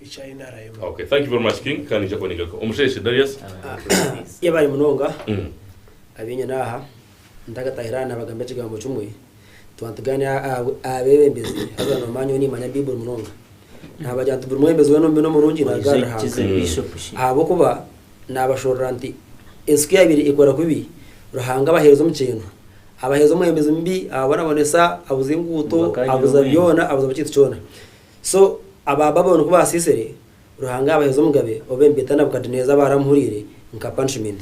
eki ariyo naarayoma. Okay, thank you very much King kandi ningira kuba ningaruka. Omusheshe Darius. Yebaare munonga abenyine aha. Ntagatahira aha nabagambira ekigambo kimwe, tuba nitugaanira aha aha abebembezi haza nomanya nyowe nimanya Baiburi munonga. Nabagira nti buri mwebembezi weena omubi n'omurungi naaruga ahari Ruhanga. Ahabw'okuba naabashorora nti entsika yaabaire ekora kubi, Ruhanga abaheereza omukyeno. Abaheereza omwebembezi mubi, ababonabonesa, abuza enguuto, abuza byona, abuza buri kintu kyona. So aba Baburoni ku baasiisire, Ruhanga yaabaheeza omugabe ow'embita Nabukaduneeza baaramuhuriire nka punishment.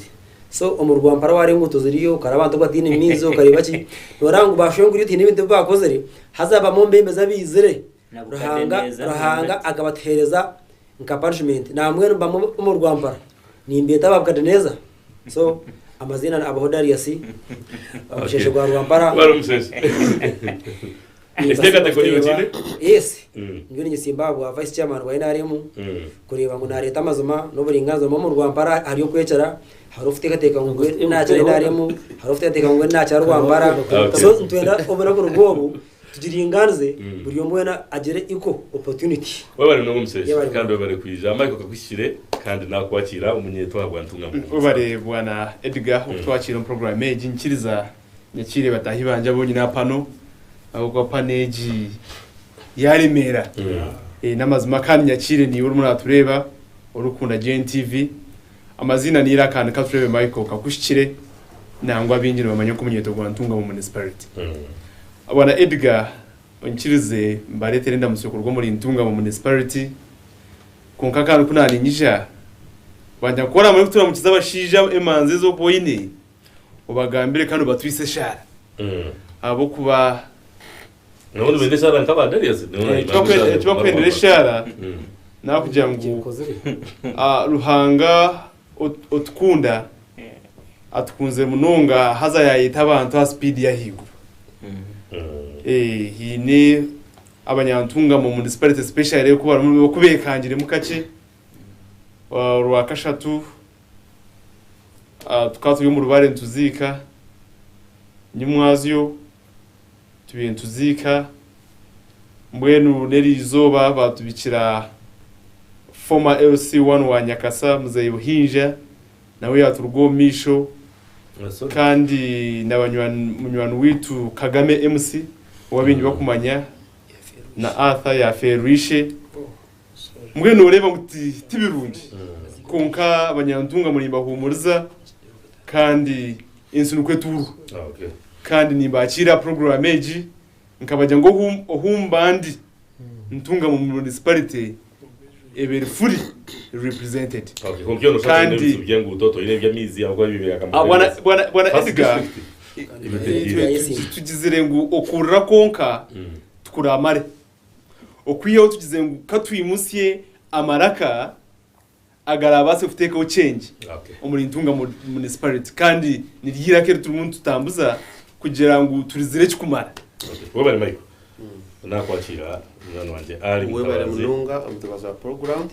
So omuri Rwampara waareeba enguuto ziriyo, okareeba abantu abataine maizi, okareeba ki, nooreeba ngu baashwenguriirwe tihaine bintu ebi baakozire, haza haabamu omubeembezi abaizire, Ruhanga Ruhanga akabatuheereza nka punishment. Nambwenu bamwe omuri Rwampara nimbeeta Babukaduneeza. So amaziina abaho Darius omusheshe gwa Rwampara. Wari omusheshe. Enteekateeko niyo ogiine? Yes. Mm. Ndiyo nigitsimba aha bwa Vice Chairman bwa NRM Mm. kureeba ngu naareeta amazima n'oburingaanizibwa mbwenu omu Rwampara ahari okwecera hariho okuteekateeka ngu ngu naakira NRM hariho okuteekateeka ngu ngu naakira Rwampara Okay. so nitwenda obunaku nibwo obu Tugiringanize buri omwe weena agire equal opportunity. Webale munonga omusheshe Yebare kandi munonga. webale kwija aha Michael kakuhikire kandi nakwakira omunyeto ahabwa Ntunga Muhumuza. Webare bwana Edgar okutwakira omu program egi nikiriza nyakire batahi bangye abonyine aha pano ahabwokuba pano egi yaremera namazima kandi nyakire niwe orimu natureba orikukunda GNTV. Amaziina n'eiraka ni Katureebe Michael Kakuhikire nangwa abaingi nibamanya nk'omunyeeto gwa Ntungamo Municipality. Bwana Edgar onkirize mbareetere endamutsyo kuruga omuri Ntungamo Municipality kwonka kandi ku naaniinyija banja nka oraabaire orikuturamukiza abashaija emanzi ezi orikuba oine obagambire kandi obatwise eshaara ahabw'okuba Nabwo nibeenda eshaara nk'aba Darius. Ekibakwendera eshaara n'okugira ngu Ruhanga otukunda atukunzire munonga haza yaayeta abantu aha sipiidi y'ahaiguru. Haine abanyantungamo omu munisiparite sipeshare oku beekangiremu kakye. Orwakashatu tukaba turi omu rubare nituziika Nimwazyo. tubire nituziika mbwenu n'eri izooba baatubikira former LC one wa Nyakasa Muzeeyi Buhinja nawe yaaturuga omu maisho kandi na banywani munywani waitu Kagame MC owabaingi bakumanya na Arthur yaafeerwa ishe Mbwenu nooreeba ngu ti ti birungi. Kwonka abanyantunga muri mbahuumuriza kandi ensi nikwo etuurwa. Kandi nimbaakiira aha puroguraamu egi nkabagira ngu ohu ohu mba ndi Ntunga mu munisiparite eba eri furi repurizentedi. Kandi Ah, Bwana Bwana Bwana Edgar, tugizire ngu okuurira kwonka tikuraamare. Okwihaho tugize ngu ka twimutsye amaraka agaraabaase kuteekaho kyengye omuri Ntunga Municipality kandi niryo eiraka eri turimu nitutambuza kugira ngu turizire ekikumara. Webare Michael. Nakwakira munywani wangye Ali Mutabazi. Webare munonga Mutabazi aha puroguramu.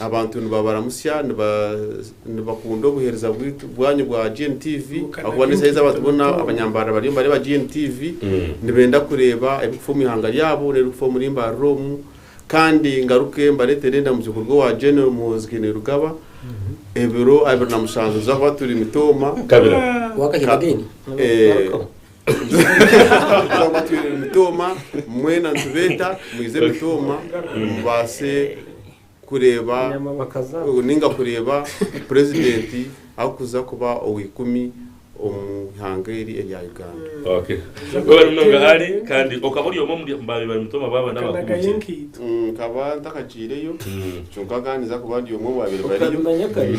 Abantu nibabaramutsya nibakunda obuheereza bwanyu bwa GNTV ahabw'okuba n'eshaaha ezi abantu boona abanyambarara bariyo nibareeba GNTV nibenda kureeba ebirikufa omu ihanga ryabo n'ebirikufa omuri mbarara omu kandi ngaruke mbareetere endamukyo kuruga owa General Muhoozi Kainerugaba ebiro abiri na mushanju tuza kuba turi Mitooma. Kabira. Wakaheeba again? Eeh. Twaba twine emitooma mwena nitubeeta muyize emitooma mubaase kureeba ninga kureeba purezidenti arikuza kuba ow'eikumi omu ihanga eri erya Uganda. Okay. Webale munonga Ali kandi okaba ori omwe omuri ba baiba mitoma baaba n'abakuru gye? Nkaba ntakagyireyo kyonka nkaanidza kuba ndi omwe omu baabaire bariyo.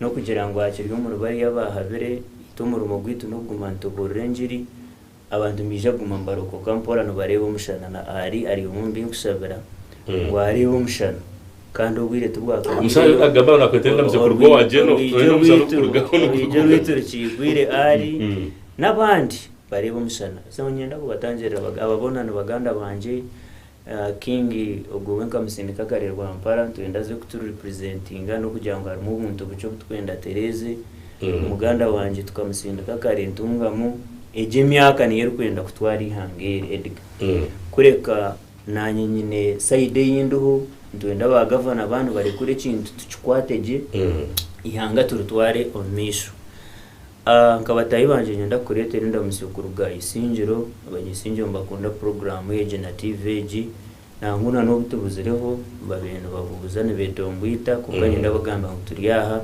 N'okugira ngu aha kiri omuri bariya abaahabire, itwe omurimo gwaitu n'okuguma nitubuurira engiri, abantu nibaija kuguma nibarokoka mpora nibareeba omushana. Na Ari ari omwe omu binkushabira ngu areebe omushana. Kandi obwire tibwakahikyeyo, orwiigi rwaitu rukiigwire Ari n'abandi bareebe omushana. So niinyenda kubatangirira, aba boona ni baganda bangye, King ogwo we nkamusindika akare Rwampara nitwenda aze kutu representinga n'okugira ngu harimu obuntu bukye obu turikwenda atereeze. Muganda wangye tukamusindika akare Ntungamo. Egyo emyaka niyo erikwenda kutwara eihanga eri Edgar. Kureka naanye nyine side ei ndiho nitwenda ba Gavana baaba nibarekura ekintu tukikwate gye eihanga turitware omu maisho. A Nka bataahi bangye niinyenda kukureetera endamutsyo kuruga Isingiro. Abanyaisingiro nibakunda puroguraamu egi na tiivi egi. Nangwa na n'obu tubuzireho, babaire nibabuuza nibeetongwita. Kwonka niinyenda kubagambira ngu turi aha.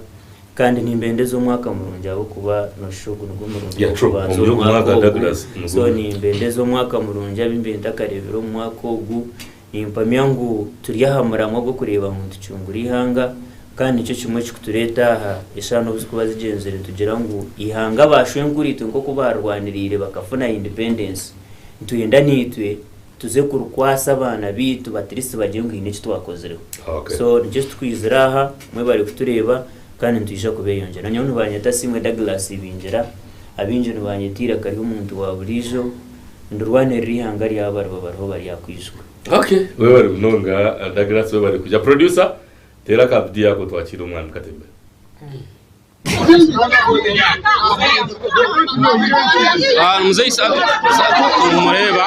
Kandi nimbendeza omwaka murungi ahabw'okuba noshusha ogu nigwo murundi gw'okubanza omwaka ogu. So nimbendeza omwaka murungi abu mbaire ntakareebire omu mwaka ogu. Nimpamya ngu turi aha muramwa gw'okureeba ngu nitucungura eihanga, kandi nikyo kimwe ekirikutureeta aha. Eshushani obu zirikuba zigyenzire nitugira ngu eihanga ba shwenkur'itwe nk'oku baarirwaniriire bakafuna Independence, nitwenda naitwe tuze kurikwasa abaana baitu batirisi bagire ngu haine eki twakozireho. So nikyo eki tukwizira aha, mwebare kutureeba kandi nitwija kubeeyongyera. Nyowe nibanyeta Siimwe Douglas Ibingira, abaingi nibanyeta eiraka ry'omuntu wa buriijo. Ndirwanirira ihanga ryabo abariba bariho bari aha kwizigwa. Ok webale munonga Douglas webale kuja producer teera aka video ako twakiire omwami katemba. Aah muzei Satu Satu nimumureeba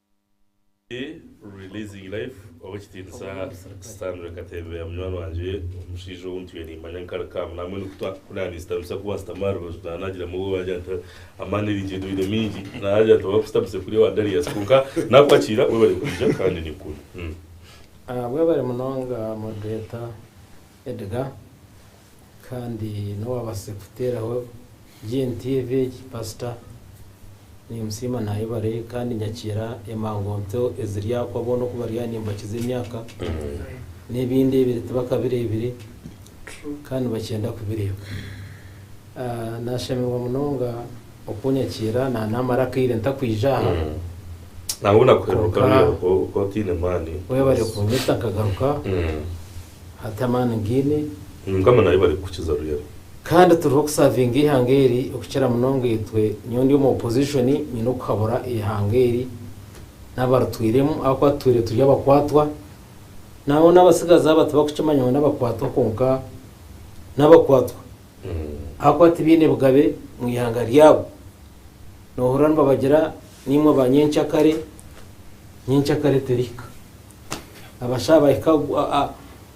Ndi Releasing Life ow'ekitiinisa Stanley Katembeya munywani wangye, omushaija ou ntwire nimmanya nka Rukaamu. Naamwe nikwo twakukunda ninzitamisa ku waasitama aha rubaju naaba naagiramu obwoba yaagira nti amaani riingi endwaire mingi. Naaba naagira nti oba kusitamisa kuri owa Darius kwonka naakwakira webare kwija kandi nikwo. Mwebare munonga murikureeta. Edgar, Kandi nowe abatsire kuteeraho GNTV egi pastor. Nimusiima nayebare kandi nyakiira emangonto eziri aha ku abona oku bari aha nimbakiza emyaka nebindi ebiri tibakabireebire kandi nibakyenda kubireeba. Nashemerwa munonga oku onyakiira na namara akaire ntakwija aha Nangwa nakuheruka kwonka oku otaine maani. webare kunyeta nkagaruka Hati amaani ngiine. Mukama naaye bari kukukiza ruyari. Kandi turiho kusavinga ihanga eri okukira munonga itwe, nyowe ndi omu opposition nyine okuhabura ihanga eri nabaritwiremu ahakuba tutwire turi abakwatwa nangwa nabatsigazi aba tibakukimanya ngu nabakwatwa kwonka nabakwatwa ahakuba tibaine bugabe omu ihanga ryabo nohurira nibabagira nimwe ba nyencakare, nyencakare terihika abashaa bahika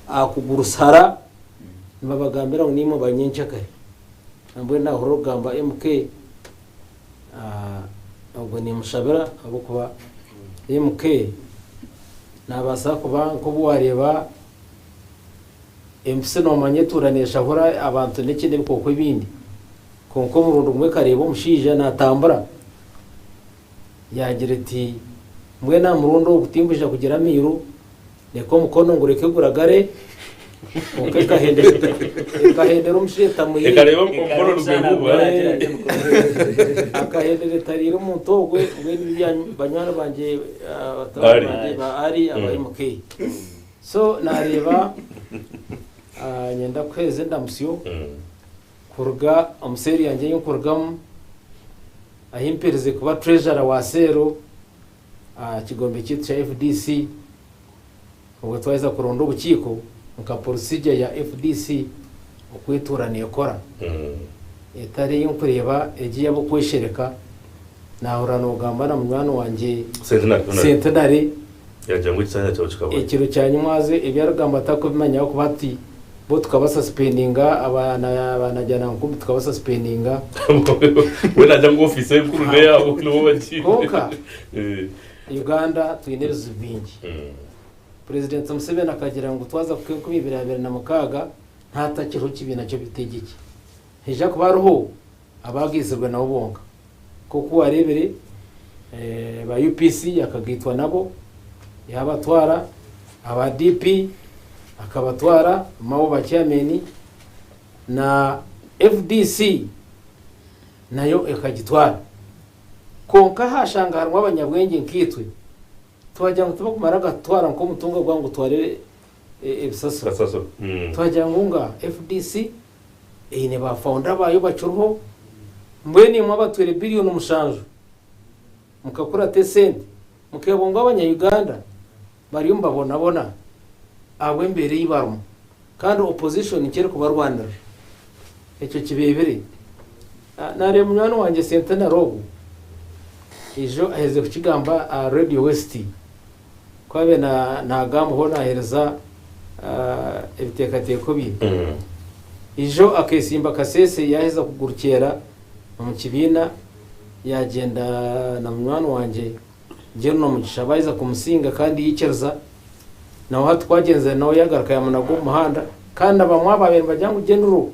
aha kugurusi hara nibabagambira ngu nimwe ba nyencakare nambwenu nahurira okugamba MK obwo nimushabira ahabwokuba MK nabasa kuba nkobu wareba empisi nomanya etuura neshahura abantu nekindi ebikooko ebindi kwonka omurundi gumwe ekareba omushaija natambura. Yaagira eti, Mbwenu aha murundi ogu tinkwija kugira amairu, reka omukono ngureke guragare. Kwonka ekahendera omushaija etariire omuntu ogwo, mbwenu ibi banywani bangye ba Ari aba MK. So naareeba nyenda kuheereza endamusyo. Kuruga omu seeri yangye ei nkurugamu, ahi mperize kuba Treasurer wa seero aha kigombe kyaitu kya FDC, obwe twaheza kuronda obukiiko nka procedure ya FDC oku etuura nekora, etari ei nkureeba egi ey'ab'okweshereka Naahurira noogamba na munywani wangye Sentenare ekiro kya nyimwazo ebi arikugamba atarikubimanya ahabw'okuba hati bo tukaba suspendinga abaanajanankumi tukaba suspendinga. Kwonka Uganda twine ebizibu bingi. Purezidenti Museveni akagira ngu twaza kuhika enkumi ibiri abiri na mukaaga naatakiriho kibiina ky'obutegyeki. Haija kuba hariho. Abaagaizirwe nabo bonka, nk'oku waareebire aba UPC akagaitwa nabo, yaabatwara, aba DP akabatwara, Mao ba Chairman, na fdc nayo ekagitwara. Kwonka haashanga harimu abanyabwengye nkaitwe, twagira ngu tibakumara gatutwara nk'omutunga gwabo ngu gutware ebisasiro. Twagira ngu nga fdc. Eine ba founder baayo bakiriho. Mbwenu imwe abatwire billion mushanju mukakura ata esente mukeebwa ngu abanya Uganda bariyo nibabonabona ahabw'embeera ei barimu kandi opposition nikyo erikubarwanirira? Ekyo kibeebire. Nareeba munywani wangye Centenary ogu eijo aherize kukigamba aha Radio West Ku abe naagamba hoo naaheereza ebiteekateeko bye. Ijo akeesimba Kasese yaaheza kugurukyera omu kibiina yaagyenda na munywani wangye Jerina Mugisha baaheza kumusinga kandi yaikiriza. Nawe hati kwagyenzire nawe yaagaruka yaamunaga omu muhanda kandi abamwe abaabaire nibagira ngu General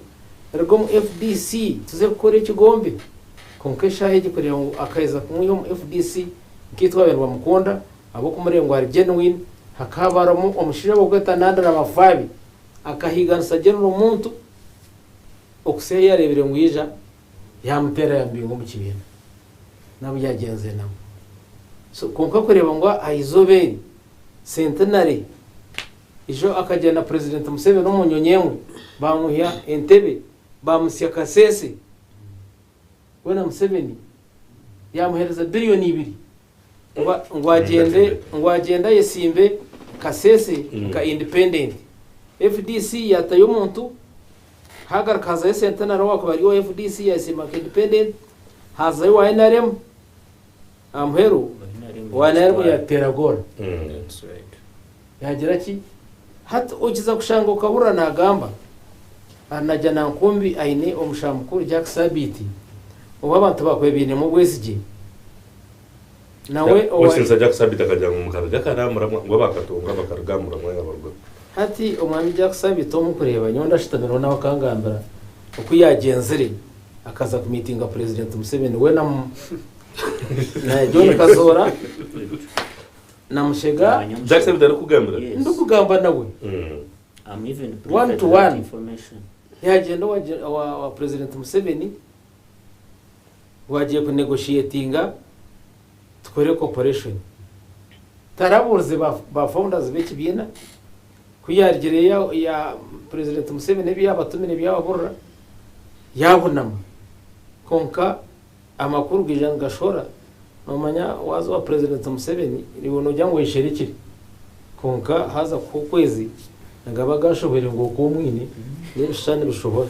ruga omu fdc tuze kukora ekigombe. Kwonka eshaaha egi kureeba ngu akaheza kumwiha omu fdc. Nkaitwe abaire bamukunda ahabw'okumureba ngu ari genuine, hakahaba harimu omushaija ow'okwetwa Nandra Mafabi akahiiganisa gye nirwo muntu okutsiha ei yareebire ngu yaija yaamuteera yaamubinga omu kibiina nabu yaagyenzire nawe. So kwonka kureeba ngu aha izooba eri, centenary, ijo akagira na Purezidenti Museveni omu nyonyi emwe, baamwihya entebe, baamutsya kaseese. Weena Museveni yaamuheereza biriyoni ibiri ngu agyende ngu agyende ayesimbe Kasese nka indipendenti. Fdc yaatayo omuntu, haagaruka hazayo Centenary owaakubaire ari owa fdc yaayesimba nka indipendenti, haazayo owa nrm Aha muheru waaba yaarimu yaateera goolo, yaagira ki? Hati okiza kushanga okahurira naagamba ari nagya na nkumbi aine omusha mukuru Jack Sabiiti ou abantu bakwebainemu obwesigye. Nawe owari. Osinsa Jack Sabiiti akagira ngu mukaruga kare aha muramwa ngu abaakatongwa bakaruga aha muramwa yaabarugaho. Hati omwami Jack Sabiiti ou murikureeba nyowe ndashutamireho nawe akangambira oku yaagyenzire akaza kumiitinga Purezidenti Museveni, we na. Na John Kazoora na Mushega Jackson bitarikugambira Yes. ndikugamba nawe Mm. I'm even One privy to to that one. information. ntihagenda owa Gen- owa owa president Museveni ngu agiye kunegotiatinga tukore cooperation tarabuurize ba ba founders b'ekibiina ku yaarugire ya ya president Museveni ebi yaabatumire ebi yaababurira yaabunama kwonka Amakuru gaija nigashora, nomanya waza owa president Museveni niwe nogira ngu oyesherikire kwonka haza kuhwa okwezi nigaba gashohwere ngu okwo omwine nebishushani bishohora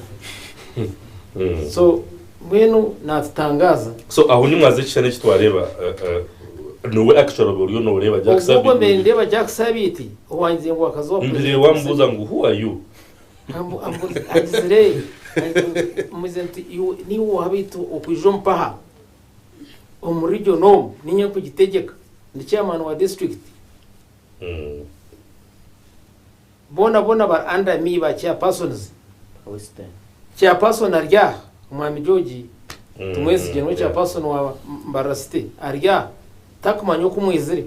so mbwenu natutangaza. So aho nimwaza ekishushani eki twareeba nowe actually oba oriyo noreeba Jack Sabiiti. Obwo obwe nindeeba Jack Sabiiti owangize ngu wakaza owa president Museveni. Mbireeba wamubuuza ngu who are you? Agizire ati, Muze nti, Niiwe oha baitu okwija omu paha omu region omu? Ninye nkugitegyeka, ndi chairman wa district. Boona boona bari under me, ba chairpersons. Chairperson ari aha, Omwami George Tumwesigye niwe chairperson wa Mbarara City, ari aha tarikumanya oku mwizire.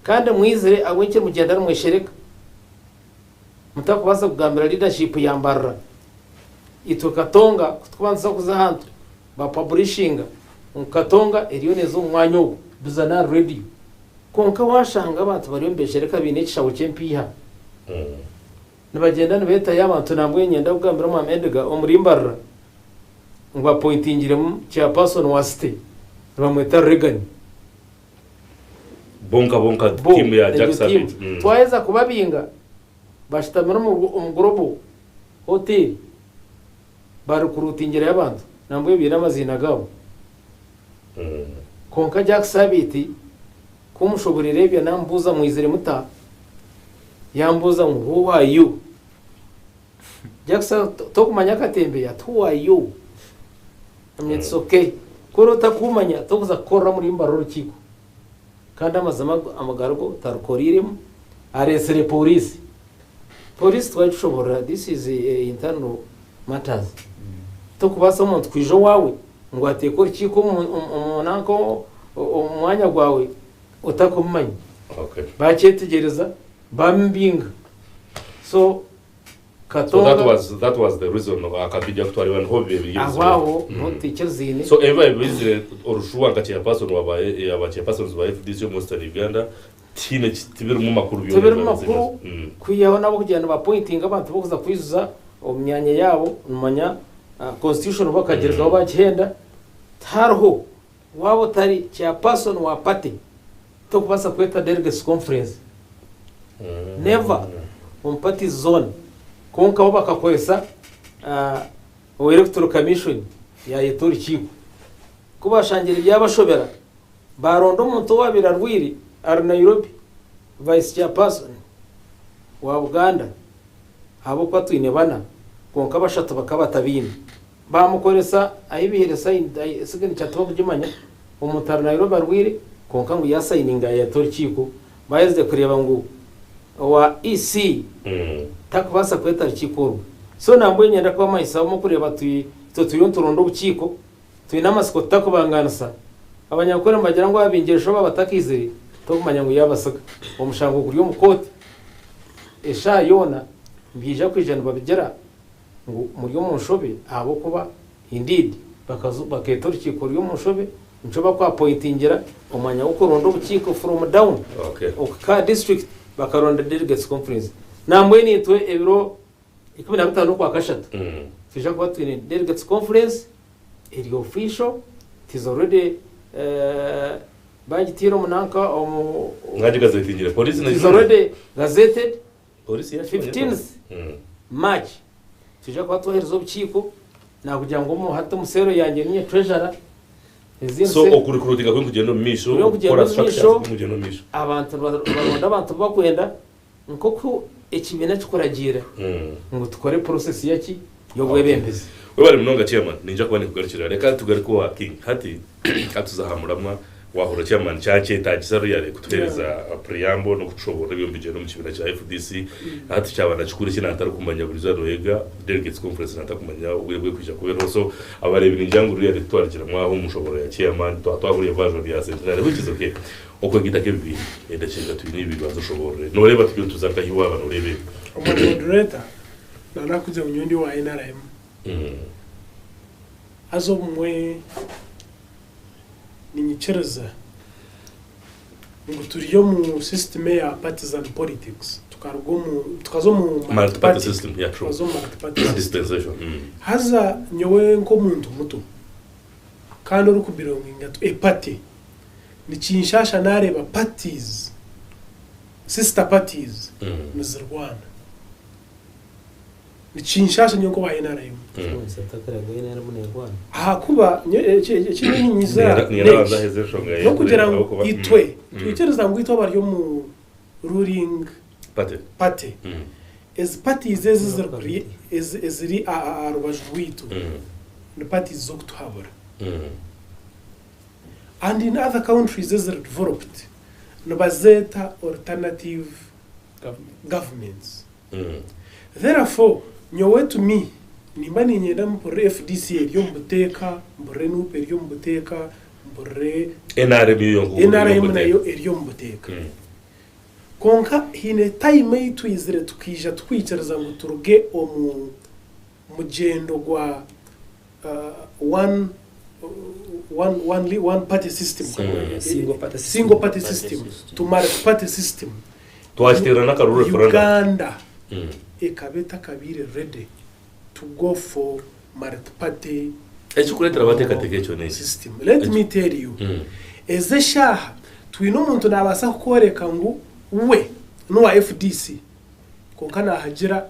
Kandi mwizire ahabw'enki mugyenda nimweshereka? Mutakubaasa kugambira leadership ya Mbarara itwe Katonga kutukubanisa kuza ahantu ba publishinga ngu Katonga eriyo neeza omu mwanya ogu. Duza n'ahari radio kwonka washanga abantu bariyo nibeshereka baine ekishaho ky'empiiha nibagyenda nibeetayo abantu nambwa enye ninyenda kugambira omwaami Edgar omuri Mbarara ngu apointingiremu chairperson wa city nibamweta Reagan. Bonka bonka Bo, tiimu ya egyo Jackson. tiimu Mm. twaheza kubabinga bashutamire omu bu- omu Global Hotel barikuruutingirayo abantu nambwenu baine amaziina gaabo. Mm. Kwonka Jack Sabiiti ku mushuburira ebyo naamubuuza mwizire muta? Yaambuuza ngu who are you? Jack Sa- to- Tokumanya akatembeya ati who are you? It's ok ku oriba otakumanya tokuza kukorera omuri mbara orukiiko kandi amazima amagarigo otarukoreiremu aretsire poriisi poriisi twari tushoborora this is a internal matters tokubaasa omuntu kwija owaawe ngu ateeke orukiiko omu nanka omu mwanya gwawe otakumumanya bakyetegyereza bamubinga so Katonga. So that was, that was the reason akatwija kutwarira niho bibe biri ebizibu. Aho aho niho tutekyeriziine. So ebibaye bizire orushuha nka chairperson wa ba ya ba chairpersons ba FDC omu Western Uganda tihiine ki tibirimu makuru byona Tibirimu ebibaye makuru bizire. Mm. kwihaho n'abokugira niba appointinga abantu bokuza kwijuza omu myanya yaabo, nimumanya ah, constitution bo bakagirekaho bakihenda, tihariho. Waaba otari Chairperson wa Party, tokubaasa kweta Delegates Conference. Never omu Party's Zone. Kwonka bo bakakoresa owa Electoral Commission yaayeta orukiiko. Ku baashangire byabashobera, baaronda omuntu owaabaire arwaire ari Nairobi, Vice Chairperson wa Buganda, ahabw'okuba twine bana, kwonka bashatu bakaba batabaine. Baamukoresa ahi baihire sayini, siginica tibarikugimanya, omutaaru nairobi arwaire kwonka ngu yaasayininga yaayeta orukiiko, baaherize kureeba ngu owa EC tarikubaasa kweta rukiiko orwo. So nambwenu nyenda kubamanyisa obumwe kureeba tu itwe turiyo nituronda obukiiko, twine amatsiko tutakubangaanisa. Abanyankore nibagira ngu ababingire shobe abatakiizire tokumanya ngu yaabatsiga. Omushango guri omu kooti eshaaha yoona nibaija kwija nibabigira. ngu muri omu nshobe ahabw'okuba indeed bakaza bakeeta orukiiko rw'omu nshobe nikyo baku appointingira omwanya gw'okuronda obukiiko from down ok ka district bakaronda delegates conference nambwenu itwe ebiro ikumi na bitaano okwa kashatu twija kuba twine delegates conference eri official it is already eh, bagitiire omu nanka omu Nga gigazetingire polisi it is nekimwe. already gazetted 15th March Twija kuba twohereza obukiiko nakugira ngu omu hati omu cell yangye ninye treasurer ezindi So cell okurecruitinga kuri nikugyenda omu maisho, Kuriyo nikugyenda okukora omu structures maisho. kuri nikugyenda omu maisho. abantu niba- nibaronda abantu bu bakwenda nkoku ekibiina kikuragiira Mm. ngu tukore process yaki yobwebembezi. Webale munonga chairman, ninja kuba ninkugarukira. Reka tugaruke owa King hati. Ka tuze aha muramwa, waahurira Chairman kyaakyetaagisa really kutuheereza a preamble n'okutushoboorora eby'omu bigyere omu kibiina kya fdc. Hati kyaba na kikuru ki naatarikumanya buri izooba nooyega Delegates Conference naatakumanya obwire bw'okwija kubeeraho. So abareebi ningira ngu really kutwarikiramu aho omu nshoboorora ya Chairman, twaba twahurira ebibazo bya Centenary which is okay. Okwegyeta nk'ebibiina, endakiika twine ibiri banza oshoboorore. Nooreeba turiyo nituza nka hi waaba nooreeba ebi? Omwe Moderator, na nakugira ngu nyowe ndi owa nrm. Haza obumwe ninyikiriza ngu turi omu sisitimu eya partisan politics, tukaruga omu, tukaza omu multi Multi-party party, system, yeah, true. tukaza omu multi party system. Dispensation. Mm. Haza nyowe nk'omuntu muto kandi orikubelonginga to a party, nikinshaasha naareeba parties, sister parties Mm. nizirwana. nikinshaasha nyowe nk'owa NRM. Ahakuba nyowe eki eki- eki nyowe ninyiza Niyera- niyera n'eki, abanza aheze enshonga ye, n'okugira ngu ahabw'okuba- Mm. itwe Mm. twikiriza ngu itwe abari omu ruling Pate. party Mm. ezi parties ezi ziri kuri- ezi- eziri a- a- aha rubaju rwaitu Mm. ni parties z'okutuhabura Mm. and in other countries eziri developed nibazeeta alternative Government. governments Therefore, nyowe to me, nimba niinyenda mpurire fdc eri omu buteeka, mpurire nup eri omu buteeka, mpurire nrm yo yonka okuguma eri omu nrm nayo buteeka. eri omu buteeka. Kwonka haine time ei twizire tukaija tukwikiriza ngu turuge omu. mugyendo gwa one party system, Uganda ekaba etakabaire ready to go for multi party system. Let me tell you, ezi eshaaha twine omuntu nabaasa kukworeka ngu we nowa fdc kwonka nahagira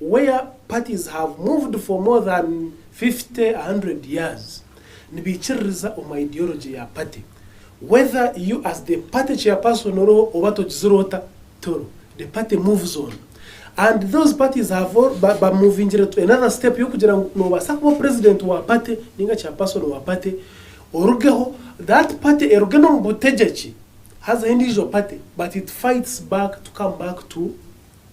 where parties have moved for more than 50, 100 years nibaikiririza omu ideology ya party whether you as the party chairperson oriho oba togizire ota tori the party moves on and those parties have ba ba movingire to another step y'okugira ngu nobaasa kuba president wa party ninga chairperson wa party orugeho that party eruge n'omu butegyeki hazeho endiijo party but it fights back to come back to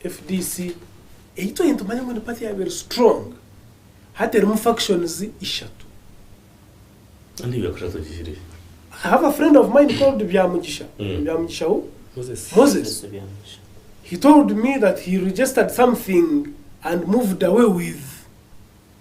fdc ei twine nitumanya ngu ni party eyaaba eri strong hati erimu factions ishatu. Kandi ebi yaakora tugihire. I have a friend of mine called Byamugisha, ni Byamugisha who? Moses. Moses. Moses Byamugisha. He told me that he registered something and moved away with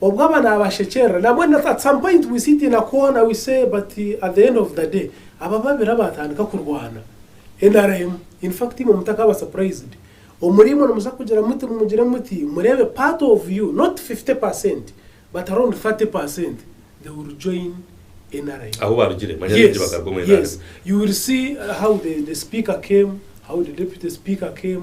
Obwo aba nabashekyerera nabwo at some point we see it in a corner we say but at the end of the day aba babiri abatandika kurwana nrm infact imwe mutakaba surprised omuri imwe nimuza kugira muti mumugire muti murebe part of you not 50 percent but around 30 percent they will join nrm Ahu barugire manya baingi yes bagaruka omu yes NRM. you will see how the the speaker came how the deputy speaker came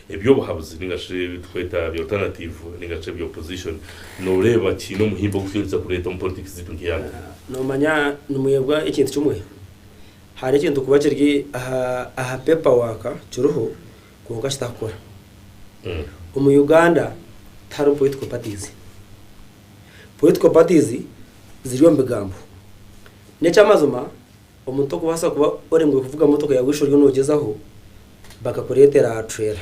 Eby'obuhabuzi ninga shi ebi tukweta bi alternativu ninga shi ebi opposition noreeba kiine omuhimbo ogu kituhikiriza kureeta omu politiki ziitu nka Ihanga? Nomanya nimwebwa ekintu kimwe, hariho ekintu kuba kiri aha paper work kiriho kwonka kitakukora. Omu Uganda tiharimu political parties. Political parties ziri omu bigambo. N'eky'amazima Omuntu okubaasa kuba oremwire kuvuga motoka yaawe eshi oriyo noogyezaho, bakakureetera aha trela.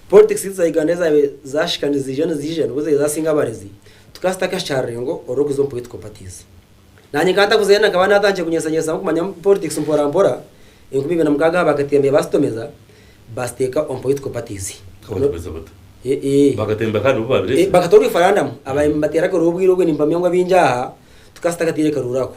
Politics za Uganda ezaabaire zaashika niziija niziija nibwo zaabaire zaasinga abarezi, tukaba tutakahikya aha rurengo orw'okuza omu political parties. Naanye nkaba ntakuzire na nkaba naatandikire kunyeshanyesamu kumanya politics mporampora, enkumi ibiri na mukaaga aha bakatembeya baasitomeza, baasiteeka omu political parties. Kubatomeza bata? Bakatembeya kandi nibo baabiretse? Bakata oreferandamu, abateera akaruuru obwire obwe nimpamya ngu abaingi aha tukaba tutakataire karuuru ako.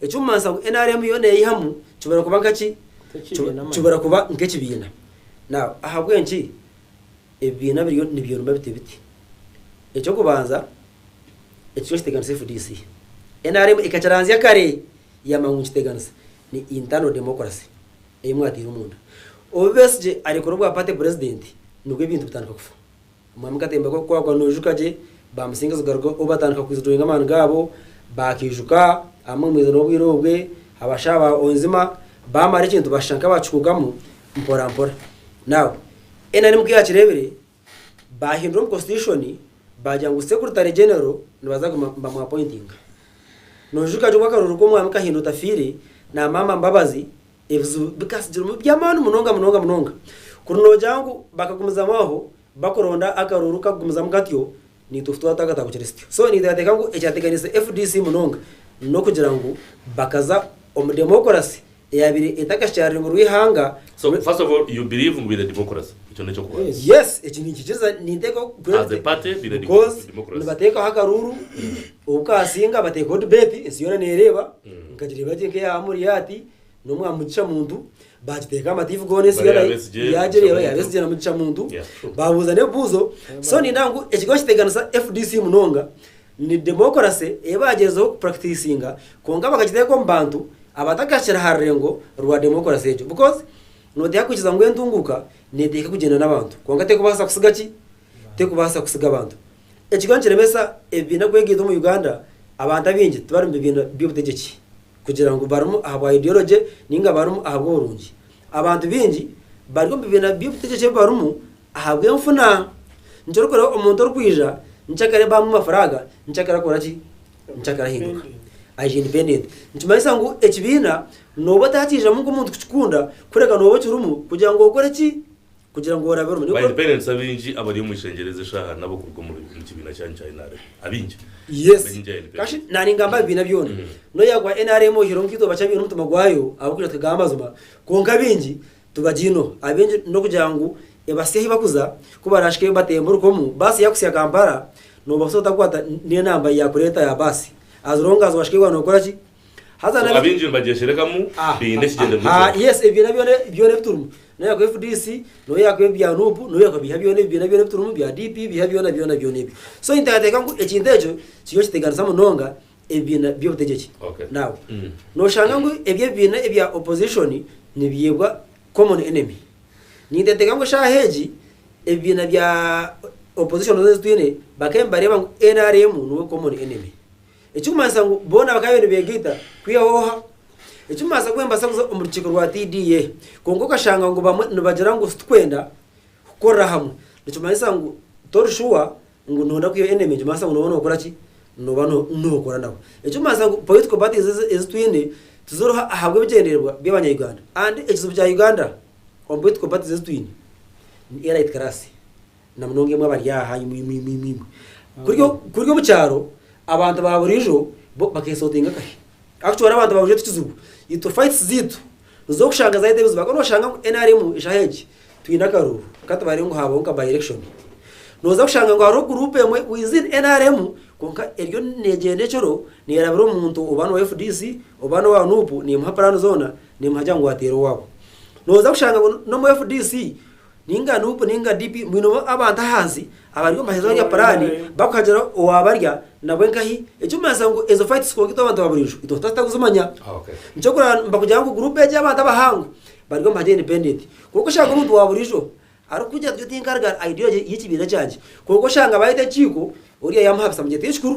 Ekirikumanyisa ngu nrm yo neeyihamu kibura kuba nka ki? Kibura kuba nk'ekibiina. Now, ahabw'enki ebibiina biriyo nibyoroma biti biti? Eky'okubanza, ekyo nikiteganisa fdc. Nrm ekakiranzya kare yaamanya ngu nikiteganisa. Ni internal democracy ei mwataire omunda. Obu Besigye arekura obwa party president, nibwo ebintu bitandika kufa. Omwami Katemba ku arikukwakwa noijuka gye, ba Musinga Zigaruka obu batandika ku withdrawinga amaani gaabo, baakaijuka abamwe mwija n'obwire obwe, abashaa ba Onzima, baamara ekintu bashusha nk'abakikuukamu mpora mpora. Now, nrm ku yaakireebire, baahindura omu Constitution baagira ngu Secretary General nibaza kuguma nibamu appointinga. Noijuka gye obu akarooro ku Omwami Kahinda otafiire na Maama Mbabazi Ebizibu bikatsigiremu by'amaani munonga munonga munonga kuri noogira ngu bakagumizamu aho bakuronda akaruuru kakugumizamu katyo naitwe ku twatagata kukira sityo. So ninteekateeka ngu ekyateganiise fdc munonga n'okugira ngu bakaza omu demokorasi eyaabaire etakakyaari rurimi rw'eihanga So rwe. first of all you believe ngu baine demokorasi? Ekyo n'eky'okubanza. Yes, eki ninkikiriza ninteekaho As a party baine because demokorasi. nibateekaho akaruuru Obu kaasinga bateekaho dibeeti, ensi yoona neereeba, nkagireeba gye nk'eya Amuriyaati n'omwa Mugisha Muntu, baagiteekaho amatiivi goona ensi Bariya yoona Besigye, yaagireeba, Mugisha ya Muntu. Besigye na Mugisha Muntu, Yeah, true. baabuuza n'ebibuuzo. So niindaha ngu ekigambo ekiteganisa FDC munonga ni demokarase ei baagyezeho kupuractisinga kwonka bakagiteeka omu bantu abatakahikire aha rurengo rwa demokarase egyo. Because nooteeha kwikiza ngu entunguuka neeteeka kugyenda n'abantu kwonka terikubaasa kutsiga ki? terikubaasa kutsiga abantu. Ekyo nikiremesa ebibiina kwegaiga omu Uganda. Abantu abaingi tibari omu bibiina by'obutegyeki kugira ngu barimu ahabwa ideology nainga barimu ahabw'oburungi. Abantu baingi bari omu bibiina by'obutegyeki ebi barimu ahabw'enfuna. Nikyo orikureeba omuntu orikwija nikyo akira abamu amafaranga nikyo akira akora ki? Nikyo akira ahinduka aija independent. Nikimanyisa ngu ekibiina nooba otakiijamu nk'omuntu kukikunda kureka nooba okirimu kugira ngu okore ki? kugira ngu orabe orumuri. By the parents abingi abari omu ishengyero ezi eshaaha nabo kuruga omu kibiina kyanyu kya nrm abingi Yes. Abingi ahari parents. Kashi naningamba ebibiina byona. Mm. Noya gwa nrm oyihireho nkaitwe bakya biine omutima gwayo ahabw'okugira tukagamba amazima kwonka abingi tubagyineho. Abingi n'okugira ngu ebasye ahi bakuza ku barashike batemba orukomu baasi yakusya Kampala nobaasa otakwata n'enamba yakureeta ya baasi as long as washika eyi waaba nokoraki Haza So na abaingi nibagyesherekamu Ah, baine ah, ekigyendero ah, ah, yes ebibiina byona byona ebiturimu noyaku fdc noyaku ebi bya nup noyaku ebiha byona ebibiina byona ebiturimu bya DP ebiha byona byona byona ebyo so ninteekateeka ngu ekintu ekyo kiriyo nikiteganisa munonga ebibiina by'obutegyeki Okay. now Mm. noshanga ngu ebi ebibiina ebya opposition nibyebwa common enemy ninteekateeka ngu eshaaha egi ebibiina bya opposition zoona ezitwine bakaba nibareeba ngu nrm niwe common enemy Ekirikumanyisa ngu boona bakaba bariyo nibeegaita kwehooha. Ekirikumanyisa kuba nibabaasa kuza omu rukiiko rwa TDA. Kwonka okashanga ngu bamwe nibagira ngu titukwenda kukorera hamwe. Nikimanyisa ngu tori shuwa ngu nooyenda kwiha enemy nikimanyisa ngu nooba nookora ki? Nooba nookora nabo. Ekirikumanyisa ngu political parties ezi ezi twine tiziriho ahabw'ebigyendererwa by'Abanya-Uganda. And ekizibu kya Uganda omu political parties ezi twine ni elite class. na munonga imwe abari aha, imwe, imwe, imwe, imwe, imwe. Kurya o- kurya omu kyaro abantu ba burijo bo bakesotinga akahe actually hariho abantu ba burijo tikizibu itwe fights ziitu nizo orikushanga zareeta ebizibu ahabw'okuba noshanga ngu nrm enshaha egi twine akaruuru katubarire ngu haabaho nka by election noza kushanga ngu hariho group emwe within nrm kwonka eriyo negyenda ekiro nerabira omuntu oba nowa fdc oba nowa nup nemuha plan zoona nemuhagira ngu ateere owaabo noza kushanga ngu n'omu fdc Ninga nup ninga DP mwine abantu ahansi abari omu maheza barya puraani bakuhagira owaabarya nabwe nkahi? Ekirikumanyisa ngu ezo fayitis kwonka itwe abantu ba buriijo itwe tutakuhita kuzimanya. Nikyokurora nibakugira ngu guruupu egi y'abantu abahangwe bari omu mahega indipendenti kwonka oshanga omuntu wa buriijo arikukugira ati nyowe tinkarga ayidiyoraje y'ekibiina kyangye kwonka oshanga baayeta enkiiko oriya yaamuhabisa amugira ati ekikuru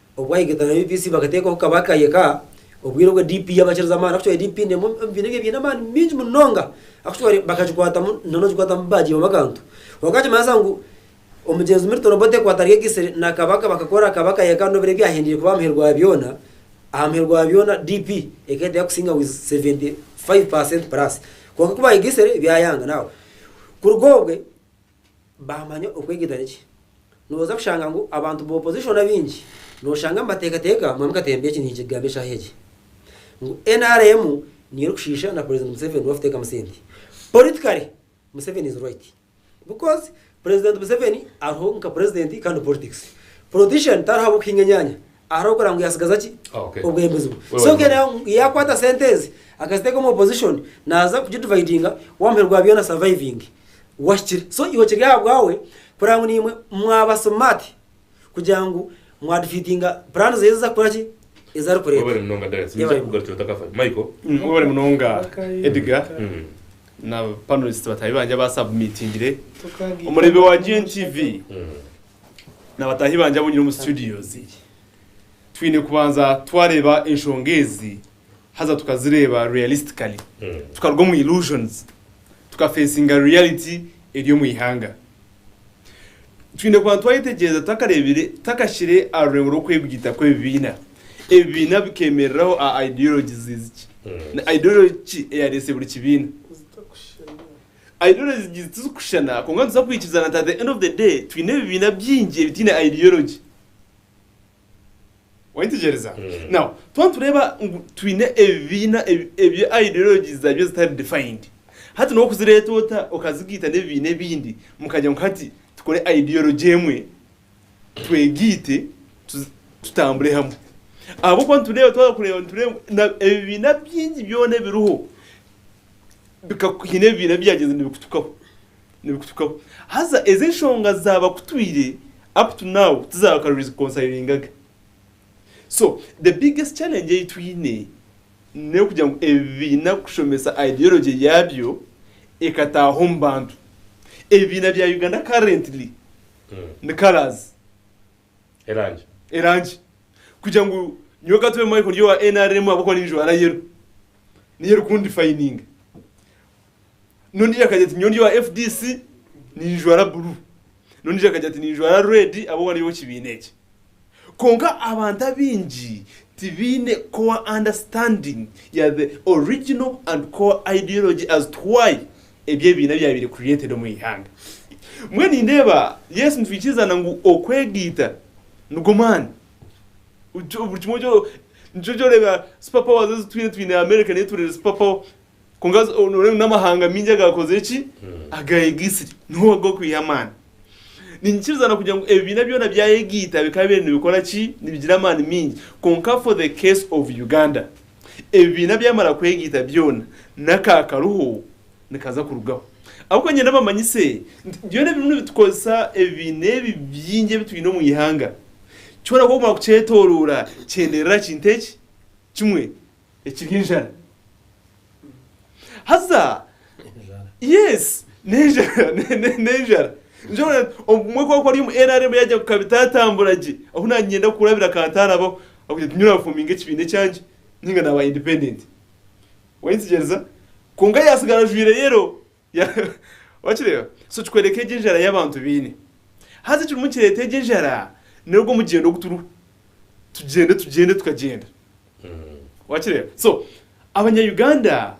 Obwahikaitano UPC bakateekaho Kabaka yeka, obwire obwe DP yabakiriza amaani akutware DP nemwe omu bibiina ebyo ebiine amaani mingi munonga akutware bakagikwatamu nana ogikwatamu bagiibamu akantu kwonka nikimanyisa ngu omugyenzi Milton Obote kwataryegyesire na Kabaka bakakora Kabaka yeka nobiro ebyahendeire kuba aha muheru gwa byoona aha muheru gwa byoona DP eka eteera kusinga with 75% plus kwonka kubayegesire byayanga now kuruga obwe Baamanya okwegita ni ki? Nooza kushanga ngu abantu ba opposition abaingi nooshanga nibateekateeka Mwami Katemba eki ninkigamba eshaaha egi ngu nrm niyo erikushiisha na President Museveni obu arikuteekamu sente. Politically, Museveni is right because President Museveni ariho nka President kandi politics. Politician tariho ahabw'okuhinga enyaanya. arikukora ngu yatsigaza ki Okay. obwembezi bwe Wewe so wena. kene yakwata sente ezi akaziteka omu opposition naza kugidividinga wamuheru gwa byona surviving wahikire so iwe kiri ahabwawe kureba ngu nimwe mwaba smart kugira ngu mwadifeatinga plan zeye eziza kukora ki ezarikureta Webale munonga Darius. Niija Yebale. kukugarukira otakafa. Michael. Mm, webale munonga Edgar Mm. na panelist bataahi bangye abasubmitingire omurebe wa GNTV Mm. Na bataahi bangye abu nyine omu situdiyo ezi, twine kubanza twareeba enshonga ezi haza tukazireeba realistically, tukaruga omu illusions, tukafeesinga reality eri omu ihanga. Twine kubanza twayetegyereza tutakareebire, tutakashyire aha rurengo rw'okwebwita kw'ebibiina, ebibiina bikemereraho aha ideologies zi ki, na ideology ki eyareese buri kibiina. Ideology ziitu tizirikushushana kwonka nituza kwikiriza nti at the end of the day twine ebibiina bingi ebitaine ideology. Waayetegyereza? Now, twaba nitureeba ngu twine ebibiina ebi ideologies zaabyo zitari defined, hati nooba okuzireeta ota okazigaita n'ebibiina ebindi mukagira ngu hati tukore ideology emwe twegaite tutambure hamwe? Ahabw'okuba nitureeba, twaba kureeba nitureeba ngu ebibiina bingi byona ebiriho bikaku haine ebibiina ebibyagyenze nibikutukaho nibikutukaho haza ezi enshonga zaabakutwire up to now tizaakare orizikonsayiringaga so the biggest challenge ei twine n'okugira ngu ebibiina kushomesa ideology yaabyo ekataaha omu bantu ebibiina bya Uganda currently ni colours. Erangi. Erangi. Kugira ngu nyowe ka tube Michael ndi owa nrm ahabw'okuba ninjwara yero. Niyo erikundifayininga. N'ondiijo akagira ati nyowe ndi owa fdc ninjwara bururu. N'ondiijo akagira ati ninjwara red ahabw'okuba ndi ow'ekibiina eki. Kwonka abantu abaingi tibaine core understanding ya the original and core ideology as to why ebi ebiina byabaire created omu ihanga. Mbwenu nindeeba yes nitwikirizaana ngu okwegaita nigwo maani buri kimwe kyo nikyo kyoreba super powers ezitwine twine America niyo etureire super power kwonka nooreeba ngu n'amahanga maingi agaakoze ki agayegaitsire niho gakwiha amaani. Ninyikiriza na kugira ngu ebibiina byona byayegaita bikaba biri nibikora ki? Nibigira amaani maingi. Kwonka for the case of Uganda, ebibiina byamara kwegaita byona, n'aka akariho nikaza kurugaho. Ahabw'okuba nyenda mbamanyise nti byona ebirimu nibitukoresa ebibiina ebi bingi ebi twine omu ihanga, kyona ku okumara kukyetoroora kyenderera kintu eki kimwe. Ekiri enjara. Haza, yes, n'enjara, ne- ne- n'enjara. Nikyo ngu na- obumwe ku ari omu NRM yaagira ngu kabitaatambura gye, ahu naanyenda kurabira kantarabaho, ahabw'okugira ngu nyowe naafominga ekibiina ekyangye, ninga naaba independent. Wayetegereza? Kwonka yaatsigara ajwaire yellow, Wakireeba? So kikworeka egyo enjara ei abantu baine. Haza ekirimu nikireeta egyo enjara n'ogwo mugyendo ogu turiho. Tugyende tugyende tukagyenda. Wakireeba? So abanya Uganda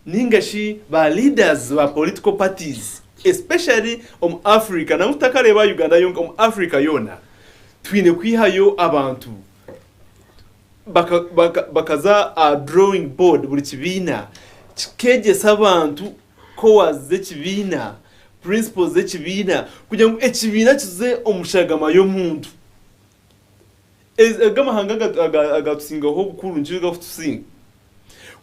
nainga shi ba leaders ba political parties especially omu Africa nangwa tutakareeba aha Uganda yonka omu Africa yoona twine kwihayo abantu baka baka bakaza aha drawing board buri kibiina kikegyesa abantu cores z'ekibiina, principles z'ekibiina kugira ngu ekibiina kize omu shagama y'omuntu. Ezi ago amahanga aga aga agatusingaho obukuru nikyo gakutusinga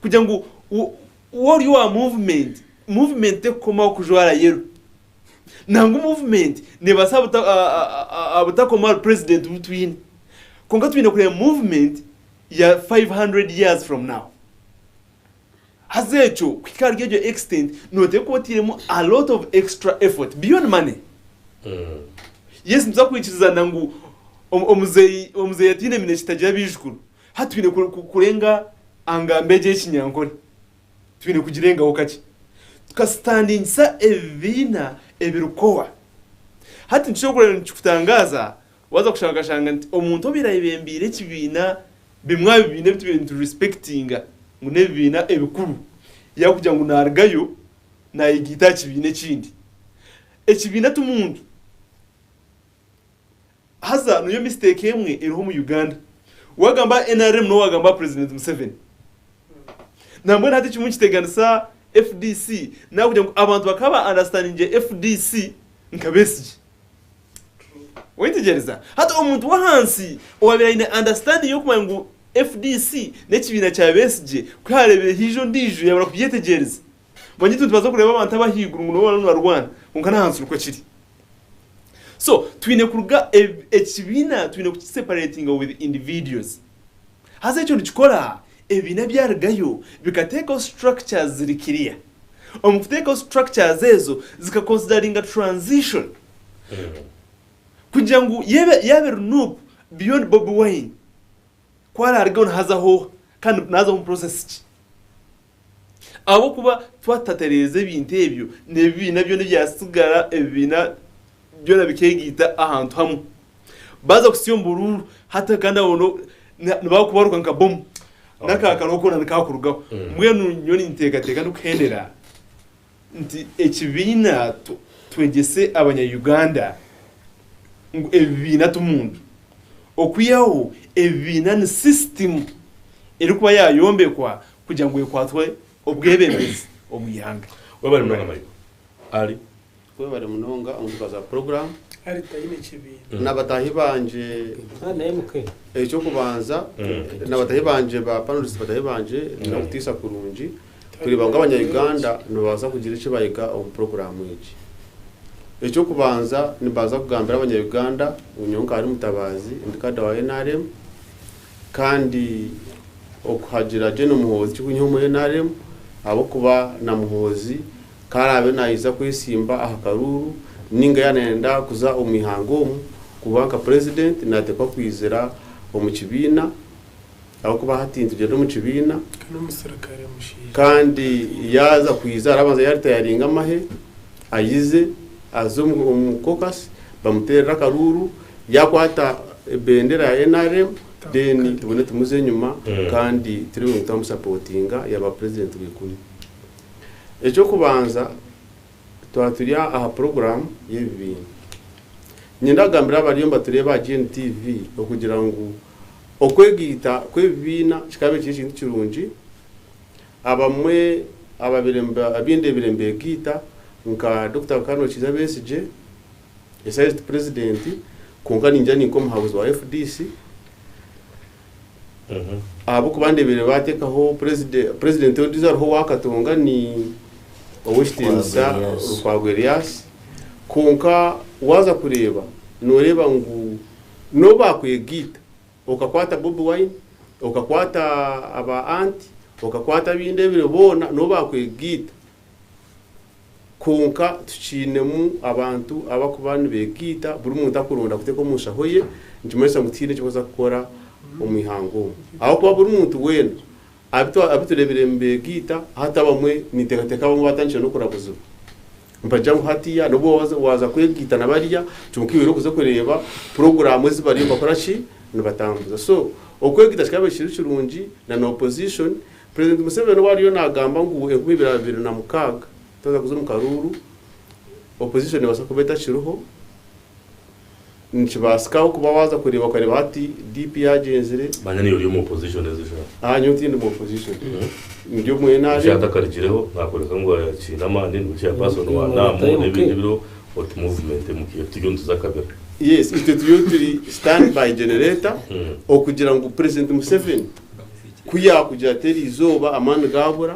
kugira ngu wo wori owa movement, movement terikukomaho kujwara yero. Nangwa movement nebasa abuta abutakoma ahari president obu twine. Kwonka twine kureba movement ya 500 years from now. Haza ekyo kuhika ahari egyo extent noteeka kuba oteiremu a lot of extra effort beyond money. Yes nituza kwikirizana ngu omuzeyi omuzeyi ataine eminekye tagira abaijukuru. Hati twine kurenga angambo egyo eyekinyankore. Twine kugirengaho kakye. Tukasitandingisa ebibiina ebirikukowa. Hati nikishuba kureba nikikutangaaza waaza kushanga okashanga nti omuntu obaire ayebembeire ekibiina, bimwe aha bibiina ebi tubaire niturisipekitinga ngu n'ebibiina ebikuru, yaakugira ngu naarugayo naayegaita aha kibiina ekindi. Ekibiina ti muntu. Haza niyo mistake emwe eriho omu Uganda. Wagamba nrm nowe wagamba president Museveni. Nambwenu hati ekimwe nikiteganisa fdc nakugira ngu abantu bakaba ba understandingyire fdc nka Besigye. Oyetegyereza? Hati omuntu wahansi owabire ayine understanding yokumanya ngu fdc nekibiina kya Besigye kuharebire haihi ondijo yabura kubyetegyereza. Manya itwe nitubaasa kureeba abantu ab'ahaiguru ngu nibo bariyo nibarwana kwonka n'ahansi nikwo kiri. So twine kuruga ekibiina twine kukiseparatinga with individuals. Haza ekyo nikikora ebibiina byarugayo bikateekaho structures ziri clear. Omu kuteekaho structures ezo zikakonsidariinga transition kugira ngu yaaba yaaba eri nup beyond Bobi Wine ku araarugeho nihaza hooha kandi naaza omu process ki? Ahabw'okuba twatatereeza ebintu ebyo, n'ebibiina byona ebyatsigara, ebibiina byona bikeegaita ahantu hamwe. Baaza kutsya omu buruuru, hati kandi aho no, na, nibaakubaruka nka bomu. N'akaakaro koona nikakurugaho. Mbwenu nyowe ninteekateeka n'okuhendera nti ekibiina Twegyese abanya Uganda ngu ebibiina ti muntu. Okwihaho ebibiina ni sisitimu erikuba yaayombekwa kugira ngu ekwatwe obwebembezi omu ihanga. Webale munonga Michael. Ali. Webale munonga omutuba za program na batahi bangye ekyokubanza na batahi bangye ba panelist batahi bangye nokutisa kurungi. Tikureeba ngu Abanya-Uganda nibabaasa kugira eki bayiga omu puroguraamu egi. Eky'okubanza, nibaza kugambira Abanya-Uganda ngu nyowe nkaari Mutabaazi ndi kaada wa nrm kandi okuhagira General Muhoozi tikunyiha omuri nrm ahabw'okuba na Muhoozi ku araabe naija kwesimba aha karuuru nainga yaaba naayenda kuza omu ihanga omu kuba nka purezidenti, naateekwa kwizira omu kibiina. Ahabw'okuba hati ntugyenda omu kibiina, kandi yaaza kwija arabanza yaaritayaringa amahe, ayize aze omu caucus, bamuteerere akaruuru, yaakwata ebendera ya nrm, then tubone tumuza enyima kandi turi ngu twamusapotinga yaaba president wa ikumi. Eky'okubanza twaba turi aha program y'ebibiina. Niinyenda kugambira abariyo nibatureeba aha GNTV okugira ngu Okwegaita kw'ebibiina kikaba ekiri ekintu kirungi. Abamwe ababaire abindeebire mbeegaita nka Dokita Rukano Kiiza Besigye, Esaiziti Purezidenti kwonka ningira ninka omuhabuzi wa fdc ahabw'okuba ndeebeire baateekaho Purezidenti, Purezidenti ondiijo ariho owa Katonga ni Ow'ekitiinisa Rukwago Erias. Kwonka waaza kureeba nooreeba ngu N'obu baakwegaita, okakwata Bobi Wine, okakwata aba Aunt, okakwata ab'inda ebiri boona, n'obu baakwegaita, kwonka tukiinemu abantu abarikuba nibeegaita, buri muntu arikuronda kuteeka omu nshaho ye, nikimanyisa ngu tihaine eki barikuza kukora omu ihanga omu. Ahabw'okuba buri muntu weena Abitwa abiturebire nibegaita hati abamwe nintekateka abamwe batandikire nokurabuzibwa nibagira ngu hatiya nobu waza kwegaita na bariya kyonka iwe orikuza okureba puroguramu ezi bariyo nibakora ki nibatambuza so okwegaita kikabaire kiri kirungi na na opposition president Museveni obu ariyo nagamba ngu enkumi ibiri abiri na mukaaga tutaza kuza omu karuuru opposition nebasa kuba etakiriho. Nikibaasikaho kuba waaza kureeba okareeba hati DP yaagyenzire. Manya niiwe ori omu opposition ezi shaaha. Aa nyowe tindi mu opposition. Ndi omu Eki NRM. atakarigireho naakworeka ngu akiine amaani, niwe chairperson wa NAM n'ebindi ebiriho oti movement MK. Turiyo nituza akabira. Yes, itwe turiyo turi stand by generator okugira ngu President Museveni ku yaakugira ati eriizooba amaani gaabura,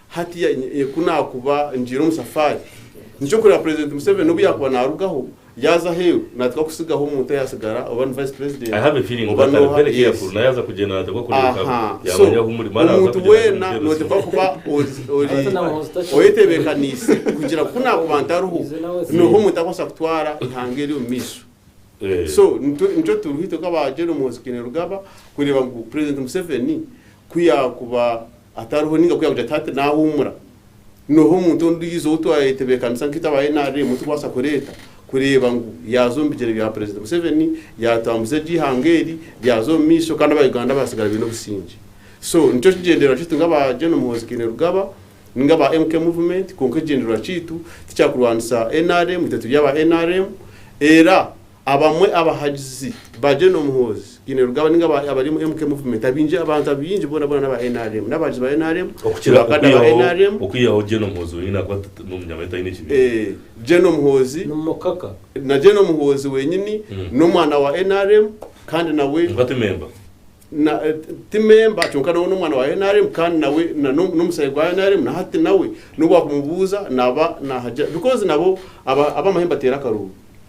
Hatiya ku naakuba ngiire omu safaari, ni ekyokureeba Purezidenti Museveni n'obu yaakuba naarugaho yaaza aheeru, naategwa kutsigaho omuntu ayatsigara oba ni Vice President oba n'oha, yes. Aha, so omuntu weena nootegwa kuba ori oyetebekaniise kugira ngu ku naakuba ntariho nooha omuntu arikubaasa kutwara eihanga eri omu maisho. So nitwe nikyo turiho itwe nk'aba General Muhoozi Kainerugaba kureeba ngu Purezidenti Museveni ku yaakuba Atariho ninga ku yagira ati, Hati naahuumura. Nooha omuntu ondiijo ou twayetebeekanisa nkaitwe aba nrm ou turikubaasa kureeta kureeba ngu yaaza omu bigyere bya Purezidenti Museveni, yaatambuza egyo eihanga eri ryaza omu maisho kandi Abauganda baatsigara baine obusingye? So nikyo kigyendererwa kyaitu nk'aba Gen Muhoozi Kainerugaba ninga aba MK Movement kwonka ekigyendererwa kyaitu tikyakurwanisa nrm, itwe turi aba nrm era Abamwe abahagizi ba Gen Muhoozi Kainerugaba ninga abari omu MK Movement abaingi abantu abaingi bona bona n'aba nrm, n'abahagizi ba nrm, Okukira bakada ba okwihaho nrm, okwihaho Gen Muhoozi wenyine ahakuba ta- ta- n'omunyamahya taine kibiina. eh, Gen Muhoozi, Nimukaka. na Gen Muhoozi wenyini Mm. n'omwana wa nrm kandi nawe Kwonka ti memba. na- eh, ti memba kyonka nawe n'omwana wa nrm kandi nawe na- no- n'omusaayi gwa nrm na hati nawe n'obu wakumubuuza naba nahagya because nabo aba- ab'amahembe ateera akaruuru.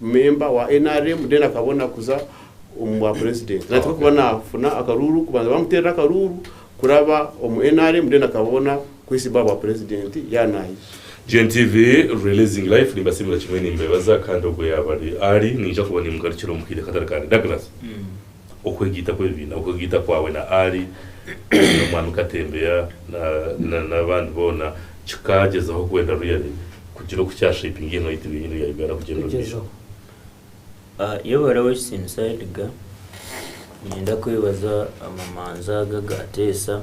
member wa nrm then akabona kuza omu bwa president nateekwa kuba nafuna akaruuru kubanza bamuteerere akaruuru kuraba omu nrm then akabona kwesiba aha bwa president yaaba nayija. Gen TV releasing live Nimbasiimira kimwe nimbeebaza kandi ogwo yaaba ari ari niija kuba nimugarukira omu kaire katari kare. Douglas. Okwegaita kw'ebibiina, okwegaita kwawe na Ali, n'Omwami Katembeya, na, n'abandi boona, kikagyezaho kwenda ruyari kugira oku kya shapinga eihanga ryaitu ry'enyini erya Uganda kugyenda omu maisho. Kugyezaho. Yebare w'Ekitinisa Edgar, niinyenda kwebaza amamanza ago agaateesa.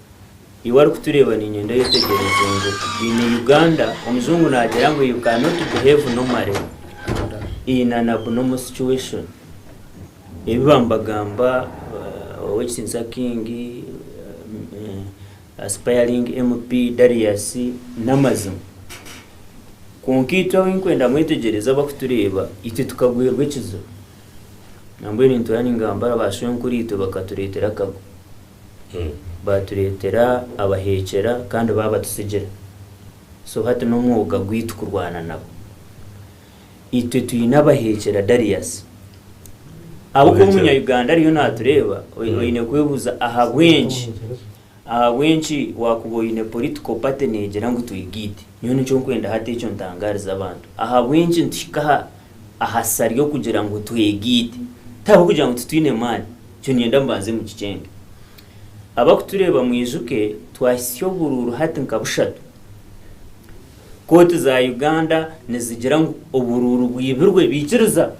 Iwe arikutureeba niinyenda oyetegyereze ngu in Uganda omuzungu naagira ngu you cannot behave normally in an abnormal situation. Ebi bambagamba Owek Sinsa King, Aspiring MP Darius n'amazima. Kwonka itwe abu ndikwenda mwetegyereze abarikutureeba itwe tukagwerwa ekizibu nambwenu nituba ningamba ba Shwenkuru itwe bakatureetera akagu. Baatureetera abaheekyera kandi baabatutsigira. So hati n'omwoga gwaitu kurwana nabo. Itwe twine abaheekyera Darius. Ahabw'okuba Omunya-Uganda ariyo naatureeba, oine kwebuuza ahabw'enki? Ahabw'enki waakuba oine political party neegira ngu twigaite? Nyowe nikyo nkwenda hati ekyo ntangaarize abantu. Ahabw'enki nituhika aha. aha sisa ry'okugira ngu twegaite, ti ahabw'okugira ngu titwine amaani. Ekyo niinyenda mubanze mukikyenge. Abarikutureeba mwijuke twahitsya oburuuru hati nka bushatu. Kooti za Uganda nizigira ngu oburuuru bwibirwe baikiriza.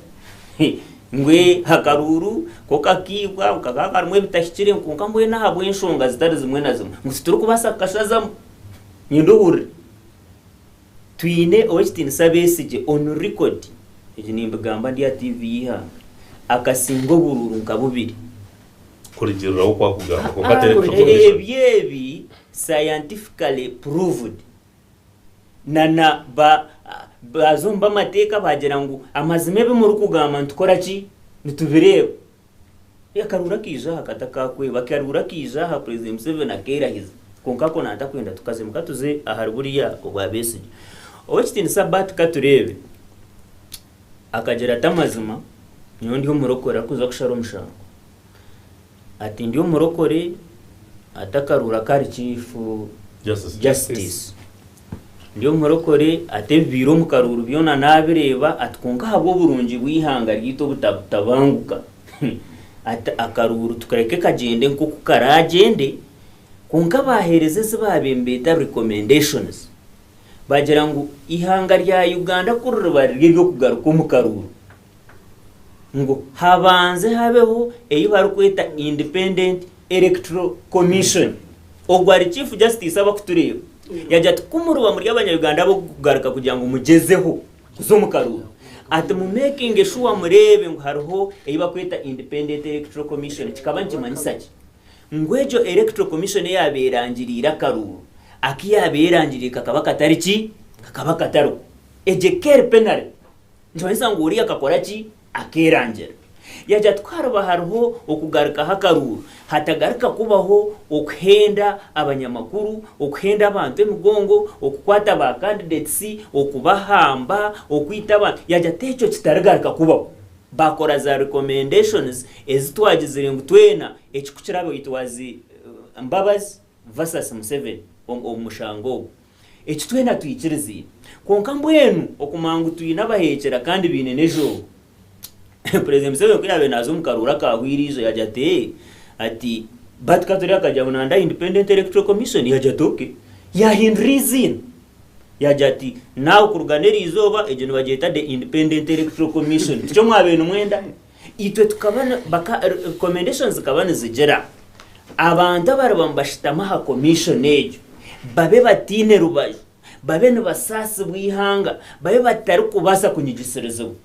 Ngu ee akaruuru ku kakaibwa ngu kakaba karimu ebitahikire kwonka mbwenu ahabw'enshonga zitari zimwe na zimwe ngu titurikubaasa kukashazamu. Niinyenda ohurire. Twine Ow'ekitiinisa Besigye on record, ebi nimbigamba ndi aha TV y'eihanga, akasinga oburuuru nka bubiri. Kurigiriraho oku akugamba kwonka ateire kucwa omugisha. Ebyo ebi scientifically proved. Na na ba baaza omu b'amateeka baagira ngu amazima ebi murikugamba nitukoraki? Nitubireeba. Ee Karuura kaija aha kata ka kweeba. Karuura kaija aha Purezidenti Museveni akeerahiza. Kwonka ako nantakwenda tukazemu. Ka tuze ahari buriya obwa Besigye. Ow'ekitiinisa Bart Katureebe akagira ati amazima nyowe ndi omurokore arikuza kushara omushango. Ati ndi omurokore ati akaruura kari Chief Justice. Ndi omurokore ati ebibaire omu karuuru byona nabireeba ati kwonka ahabw'oburungi bw'eihanga ryaitu obutabutabanguka ati akaruuru tukareke kagyende nk'oku karaagyende kwonka baaheereza ezi baabaire nibeeta recommendations baagira ngu eihanga rya Uganda ku ririba riri ery'okugaruka omu karuuru ngu habanze habeho ei barikweta Independent Electoral Commission. Ogwo ari Chief Justice aba kutureeba. Yagira ati ku muriba muri Abanya-Uganda ab'okugaruka kugira ngu mugyezeho kuza omu karuuru, ati mu makinge shuwa mureebe ngu hariho ei barikweta Independent Electoral Commission. Kikaba nikimanyisa ki? Ngu egyo Electoral Commission eyaaba erangiriire akaruuru, aku yaaba erangiriire kakaba katari ki? Kakaba katariho. Egyo ekeri penalty Nikimanyisa ngu oriya akakora ki? Akeerangira. Yaagira ati, Ku hariba hariho okugarukaho akaruuru, hatagaruka kubaho okuhenda abanyamakuru, okuhenda abantu emigongo, okukwata ba candidates, okubahamba, okwita abantu. Yaagira ati, Ekyo kitarigaruka kubaho. Baakora za recommendations ezi twagizire ngu twena ekikukira abe it was Mbabazi versus Museveni omu mushango ogwo. Eki twena twikiriziine. Kwonka mbwenu okumanya ngu twine abaheekyera kandi baine n'ezooba. Purezidenti Museveni ku yaabaire naaza omu karooro akaahwaire eijo yaagira ati, Ee, ati, Bart Katurebe akagira ngu nanda aha Independent Electoral Commission, yaagira ati, Okay. Yaahindura eiziina. Yaagira ati, Now kuruga n'eriizooba, egyo nibagyeta The Independent Electoral Commission. Tikyo mwabaire nimwenda? Itwe tukaba ni, baka, recommendations zikaba nizigira abantu abariba nibashutama aha commission egyo babe bataine rubaju, babe nibasaasibwa eihanga, babe batarikubaasa kunyigisirizibwa.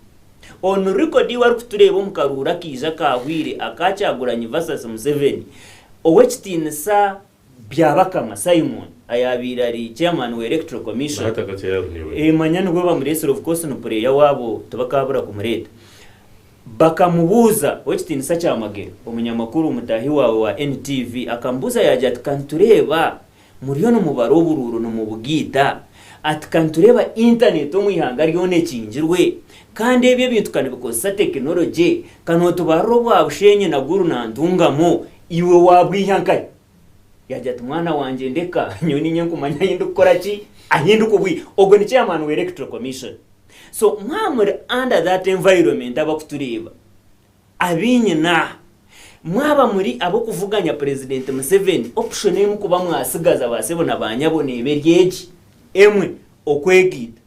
Onu record ei warikutureeba omu karuuru akaija akaahweire aka Kyagulanyi versus Museveni, ow'ekitiinisa Byabakama Simon ayaabaire ari Chairman wa Electoral Commission, manya nibwo bamureetsire of course ni pureeya waabo tibakaabura kumureeta, bakamubuuza Ow'ekitiinisa Kyamagero, omunyamakuru mutaahi waawe wa NTV, akamubuuza yaagira ati, Ka nitureeba muriyo nimubara oburuuru nimubugaita, ati ka nitureeba internet omu ihanga ryona ekingirwe kandi ebyo ebintu ka nibikozesa tekinologye, ka nootubarira obwa Bushenyi na Gulu na Ntungamo Iwe waabwiha nkahi? Yaagira ati, Mwana wangye ndeka, nyowe niinye nkumanya ahi ndikukora ki, ahi ndikubwiha. Ogwo ni chairman wa Electoral Commission. So mwaba muri under that environment abakutureeba, abainyina aha, mwaba muri ab'okuvuganya President Museveni, option emu kuba mwatsigaza ba sebo na ba nyabo neeba eri egi, emwe, Okwegaita.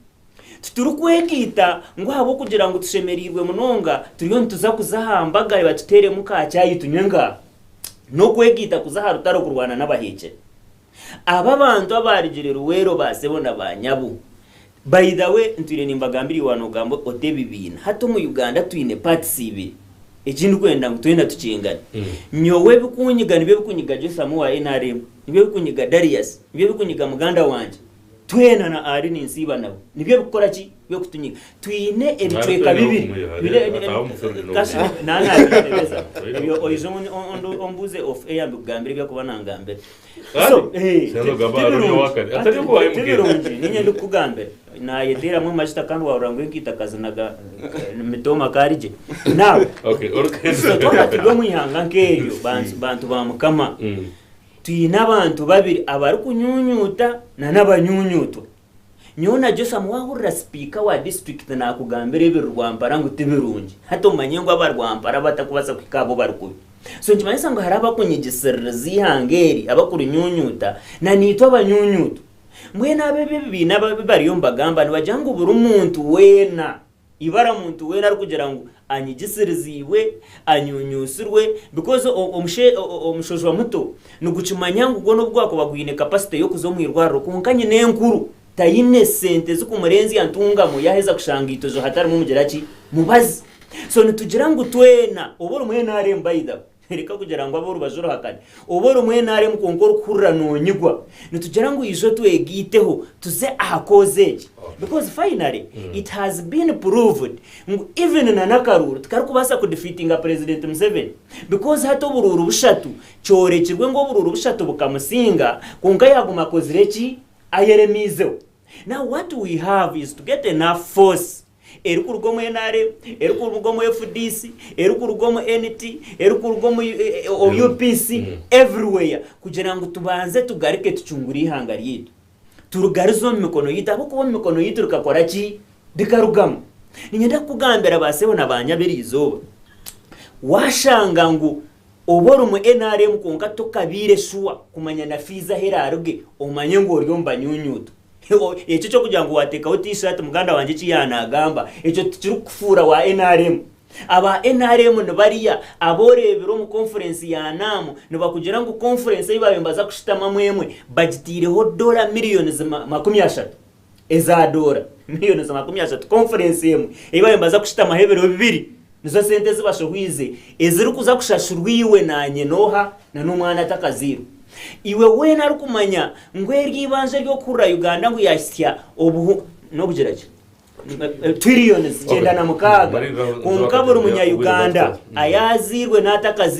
Titurikwegayita ngu ahabw'okugira ngu tushemereirwe munonga turiyo nituza kuza aha mbaga reeba tuteeremu ka chai tunywe ngaaha. N'okwegaita kuza aha rutaro kurwana n'abaheekyere. Abo abantu abaarugire Luweero ba sebo na ba nyabo. By the way ntwire nimbagambira Iwe noogamba ota ebibiina. Hati omu Uganda twine parts ibiri. Eki ndikwenda ngu twena tukyengane. Nyowe ebikunyiga nibyo ebikunyiga Jotham owa nrm, nibyo ebikunyiga Darius, nibyo ebikunyiga muganda wangye. Twena na Ali ninsiiba nawe nibyo ebikukora ki? By'okutunyiga. Twine ebicweka bibiri. Kashi naanabitebeza oyo oije ombuuze off air mbikugambire ebyakuba naangambira. So, tibirungi. Tibirungi. Niinye ndikukugambira. Naayeteeramu amajuta kandi waahurira ngu enkaita akazinaga mitooma akaari gye. Now, itwe twaba turi omu ihanga nk'eryo, bantu ba Mukama, Twine abantu babiri abarikunyunyuuta nana abanyunyuutwa. Nyowe na Jotham waahurira sipiika wa disiturikiti naakugambira ebiri Rwampara ngu ti birungi, hati omanye ngu aba Rwampara abatakubaasa kuhika ahu bari kubi. So nikimanyisa ngu hariho abakunyigisiririza eihanga eri, abarikurinyunyuuta, nanaitwe abanyunyuutwa. Mbwenu abo ebi ebibiina ebi bariyo nibagamba nibagira ngu buri muntu weena Ibara omuntu weena arikugira ngu anyigisiriziibwe, anyunyuusirwe because omushe omushojwa muto nigukimanya ngu gwona obugwakuba gwine capacity y'okuza omu irwariro kwonka nyina enkuru tayine sente zikumurenzya ntungamo yaheza kushanga itozo hatarimu mugira ki? Mubazi. So nitugira ngu twena obu orimu nareeba by the. Reka kugira ngu ab'orubaju oruhakare oba orumwenaaremu kwonka orikuhurira noonyigwa. Nitugira ngu ijo twegaiteho tuze aha koozi egi because finally it has been proved ngu even na n'akaruuru tikarikubaasa ku defeatinga Purezidenti Museveni because hati oburuuru bushatu kyorekirwe ngu oburuuru bushatu bukamusinga kwonka yaaguma akozire ki? Ayeremeizeho. Now what we have is to get enough force. erikuruga omu nrm, erikuruga omu fdc, erikuruga omu NT, erikuruga omu UPC, everywhere kugira ngu tubanze tugaruke tucungure eihanga ryaitu. Turigarize omu mikono yaitu ahabw'okuba omu mikono yaitu rikakora ki? Rikarugamu. Niinyenda kukugambira ba sebo na ba nyabo erizooba, waashanga ngu. Oba orimu nrm kwonka tokabaire shuwa kumanya na fees ahu eraaruge omanye ngu ori omu banyunyuutu. Ekyo eky'okugira ngu waateekaho T-shirt muganda wangye eki yaanaagamba, ekyo tikirikukufuura wa nrm. Aba nrm nibarya abu oreebire omu conference ya NAM nibakugira ngu conference ei baabaire nibaza kushutamamu emwe bagitaireho doola millions makumi ashatu. Eza doora mirioni za makumi ashatu konfurensi emwe ei baabaire nibaza kushutamaho ebiro bibiri nizo sente ezi bashohoize ezirikuza kushashurwa iwe naanye n'oha na n'omwana atakazairwe. Iwe weena arikumanya ngu eryo eibanja ery'okuhurira Uganda ngu yaahitsya obuhu n'obugira ki? Trillions kyenda na mukaaga kwonka buri munya-Uganda ayaazairwe n'atakazairwe,